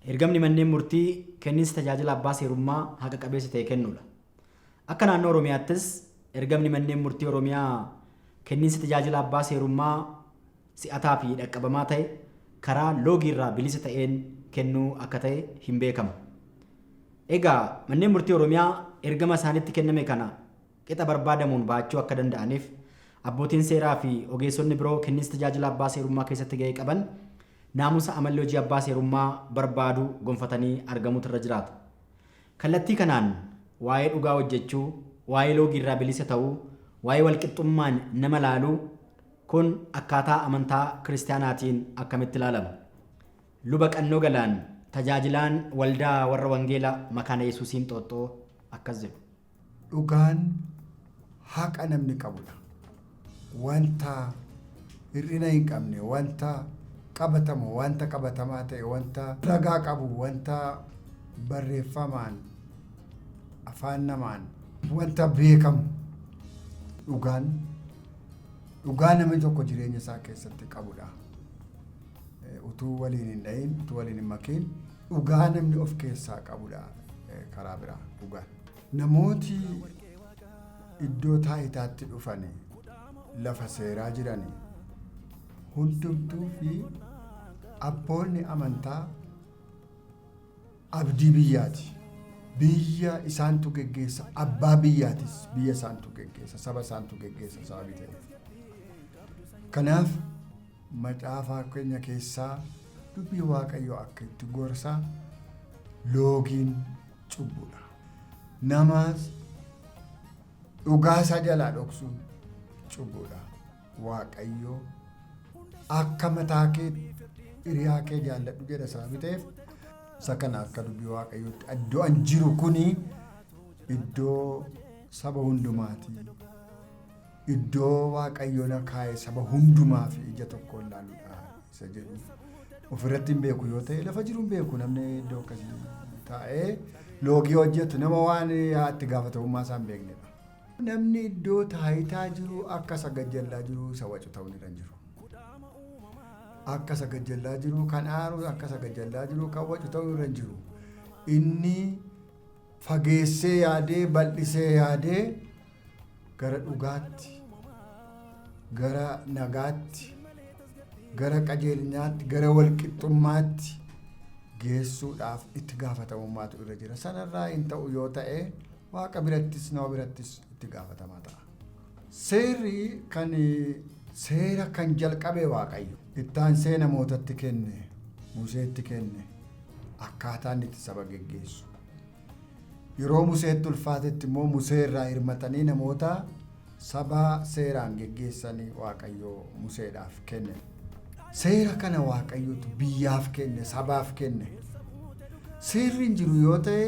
Ergamni manneen murtii kenninsi tajaajila abbaa seerummaa haqa qabeessa ta'e kennuudha. Akka naannoo Oromiyaattis ergamni manneen murtii Oromiyaa kenninsi tajaajila abbaa seerummaa si'ataa fi dhaqqabamaa ta'e karaa loogii irraa bilisa ta'een kennuu akka ta'e hin beekamu. Egaa manneen murtii Oromiyaa ergama isaanitti kenname kana qixa barbaadamuun ba'achuu akka danda'aniif abbootiin seeraa fi ogeessonni biroo kenniinsa tajaajila abbaa seerummaa keessatti ga'ee qaban naamusa amalli hojii abbaa seerummaa barbaadu gonfatanii argamuutu irra jiraata. Kallattii kanaan waa'ee dhugaa hojjechuu, waa'ee loogii irraa bilisa ta'uu, waa'ee walqixxummaan nama laaluu Kun akkaataa amantaa Kiristiyaanaatiin akkamitti laalama? Luba Qannoo Galaan, tajaajilaan Waldaa Warra Wangeela Makaana Yesuusii Inxooxxoo akkas jedhu. Dhugaan haqa namni qabudha. Wanta hir'ina hin qabne, wanta qabatamu, wanta qabatamaa ta'e, wanta ragaa qabu, wanta barreeffamaan, afaan namaan, wanta beekamu dhugaan dhugaa namni tokko jireenya isaa keessatti qabudha. Eh, Utuu waliin hin dhahin, utuu waliin hin makiin dhugaa namni of keessaa qabudha eh, karaa biraa dhugaan. Namooti iddoo taayitaatti dhufani lafa seeraa jirani hundumtuu fi abboonni amantaa abdii biyyaati. Biyya isaantu geggeessa, abbaa biyyaatis biyya isaantu geggeessa, saba isaantu geggeessa sababii ta'eef. Kanaaf macaafaa keenya keessaa dubbii Waaqayyoo akka itti gorsa loogiin cubbudha. Namaas dhugaa isaa jalaa dhoksuun cubbudha. Waaqayyo akka mataa kee hiriyaa kee jaalladhu jedha sababii ta'eef isa kana akka dubbii waaqayyootti iddoo an jiru kuni iddoo saba hundumaati. iddoo Waaqayyo na kaa'e saba hundumaa fi ija tokkoon laaludha isa jedhu ofirratti hin beeku yoo ta'e lafa jiru hin beeku namni iddoo akkasii taa'ee loogii hojjetu nama waan itti gaafatamummaa isaa hin beeknedha. Namni iddoo taayitaa jiru akka isa gajjallaa jiru isa wacu ta'uu ni danda'u. Akka isa gajjallaa jiru kan aaru akka isa gajjallaa jiru kan wacu ta'uu irra hin jiru. Inni Fageessee yaadee bal'isee yaadee gara dhugaatti, gara nagaatti, gara qajeelinaatti, gara walqixxummaatti geessuudhaaf itti gaafatamummaatu irra jira. Sanarraa hin ta'u yoo ta'e waaqa birattis nama birattis itti gaafatamaa ta'a. Seerri kan seera kan jalqabe Waaqayyo. Ittaansee namootatti kenne, Museetti kenne, akkaataa inni itti saba geggeessu. Yeroo Museetti ulfaatetti immoo Musee irraa hirmatanii namoota saba seeraan geggeessan Waaqayyo Museedhaaf kenne. Seera kana Waaqayyotu biyyaaf kenne, sabaaf kenne. Seerri hin jiru yoo ta'e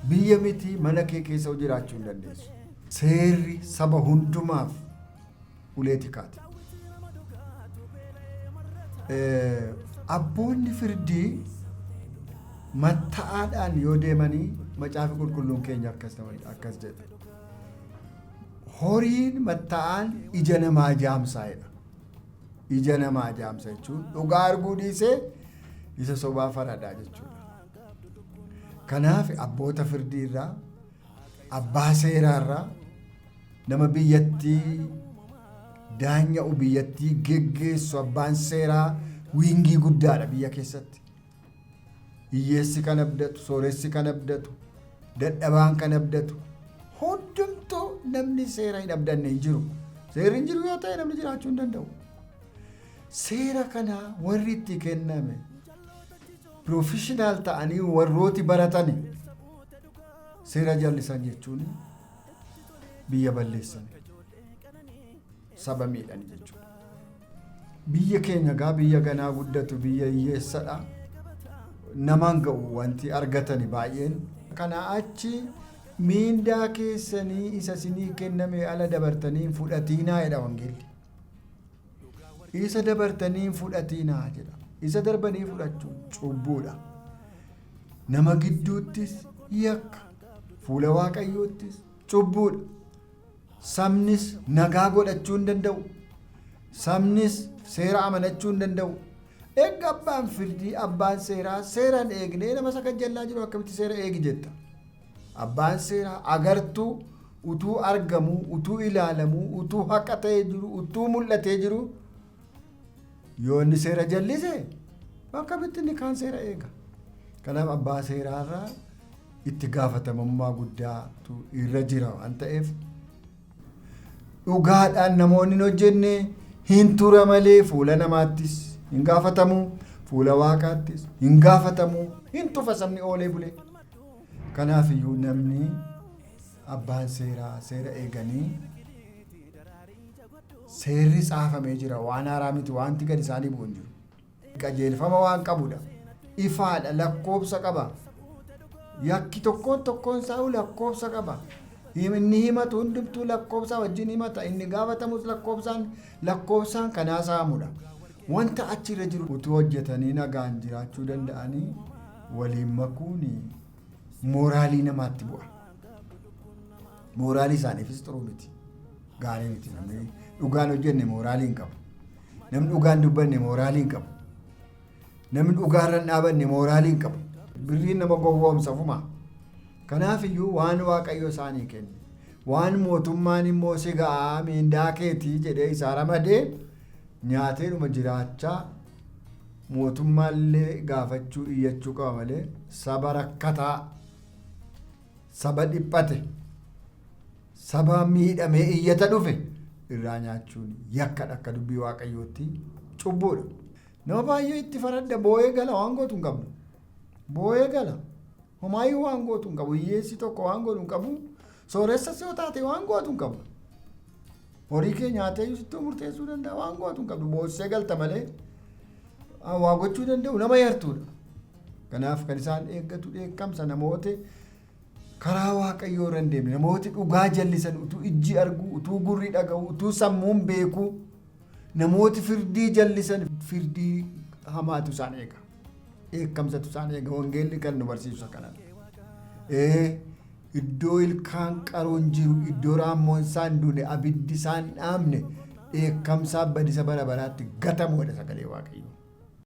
biyya miti mana kee keessa jiraachuu hin dandeessu. Seerri saba hundumaaf ulee tikaati. Abboonni firdii matta'aadhaan yoo deemanii macaafi qulqulluun keenya akkas nama akkas jedha. Horiin matta'aan ija namaa jaamsaa jedha. Ija namaa jaamsa jechuun dhugaa arguu dhiisee isa sobaa faradaa jechuudha. Kanaaf abboota firdii irraa abbaa seeraarraa nama biyyattii daanya'u biyyattii geggeessu abbaan seeraa wiingii guddaadha biyya keessatti. Hiyyeessi kan abdatu, sooressi kan abdatu, dadhabaan kan abdatu hundumtuu namni seera hin abdanne hin jiru. Seerri hin jiru yoo ta'e namni jiraachuu hin danda'u. Seera kana warri itti kenname piroofeshinaal ta'anii warrooti baratani. Seera jallisan jechuun biyya balleessan saba miidhan jechuudha. Biyya keenya gaa biyya ganaa guddatu biyya hiyyeessadha. Namaan ga'u wanti argatani baay'een. Kana achi miindaa keessanii isa sinii kenname ala dabartanii hin fudhatiinaa jedha wangeelli. Isa dabartanii hin fudhatiinaa jedha. Isa darbanii fudhachuun cubbuudha. Nama gidduuttis yakka, fuula Waaqayyoottis cubbuudha. Sabnis nagaa godhachuu hin danda'u. Sabnis seera amanachuu hin danda'u. Eegga abbaan firdii, abbaan seeraa seera hin eegnee nama isa kajjallaa jiru akkamitti seera eegi jetta? Abbaan seeraa agartuu utuu argamuu, utuu ilaalamuu, utuu haqa ta'ee jiru, utuu mul'atee jiru Yoo inni seera jallise akkamitti inni kaan seera eega. Kanaaf abbaa seeraa irraa itti gaafatamummaa guddaatu irra jira waan ta'eef dhugaadhaan namoonni hin hojjenne hin tura malee fuula namaattis hin gaafatamu fuula waaqaattis hin gaafatamu hin tufa sabni oolee bulee. Kanaaf iyyuu namni abbaan seeraa seera eeganii Seerri caafamee jira, waan haaraa miti, waanti gad isaanii bu'u hin jiru. Qajeelfama waan qabu dha. Ifaa dha, lakkoofsa qaba. Yakki tokkoon tokkoon isaa iyyuu lakkoofsa qaba. Him- Inni himatu hundumtuu lakkoofsaa wajjin himata, inni gaafatamus lakkoofsaan, lakkoofsaan kan haasa'amu dha. Wanta achi irra jiru utuu hojjetanii nagaan jiraachuu danda'anii waliin makuun mooraalii namaatti bu'a. Mooraalii isaaniifis xuruu miti. Gaarii miti namni dhugaan hojjenne mooraalii hin qabu. Namni dhugaan dubbanne mooraalii hin qabu. Namni dhugaarra hin dhaabanne mooraalii hin qabu. Birriin nama gowwoomsa fumaa. Kanaaf iyyuu waan waaqayyo isaanii kenne. Waan mootummaan immoo si ga'aa miindaa keetii jedhee isaa ramadee nyaateedhuma jiraachaa mootummaallee gaafachuu iyyachuu qaba malee saba rakkataa Saba dhiphate, saba miidhamee iyyata dhufe irraa nyaachuun yakkadha akka dubbii waaqayyootti cubbuudha. Nama baay'ee itti faradda boo'ee gala waan gootu hin qabdu. Boo'ee gala. Homaayyuu waan gootu hin qabu. Hiyyeessi tokko waan godhu hin qabu. Sooressas yoo taate waan gootu hin qabu. Horii kee nyaatee iyyuu sitti murteessuu danda'a waan gootu hin qabdu boossee galta malee ah, waa gochuu danda'u nama yartuudha. Kanaaf kan isaan eeggatu dheekkamsa namooti karaa waaqayyoo irra hin deemne namooti dhugaa jallisan utuu ijji arguu utuu gurri dhaga'u utuu sammuun beekuu namooti firdii jallisan firdii hamaatu isaan eega. dheekkamsatu isaan eega wangeelli kan nu barsiisu kana ee iddoo ilkaan qaruun jiru iddoo raammoon isaa hin duune abiddi isaa hin dhaamne dheekkamsaa badisa bara baraatti gatamuudha sagalee waaqayyo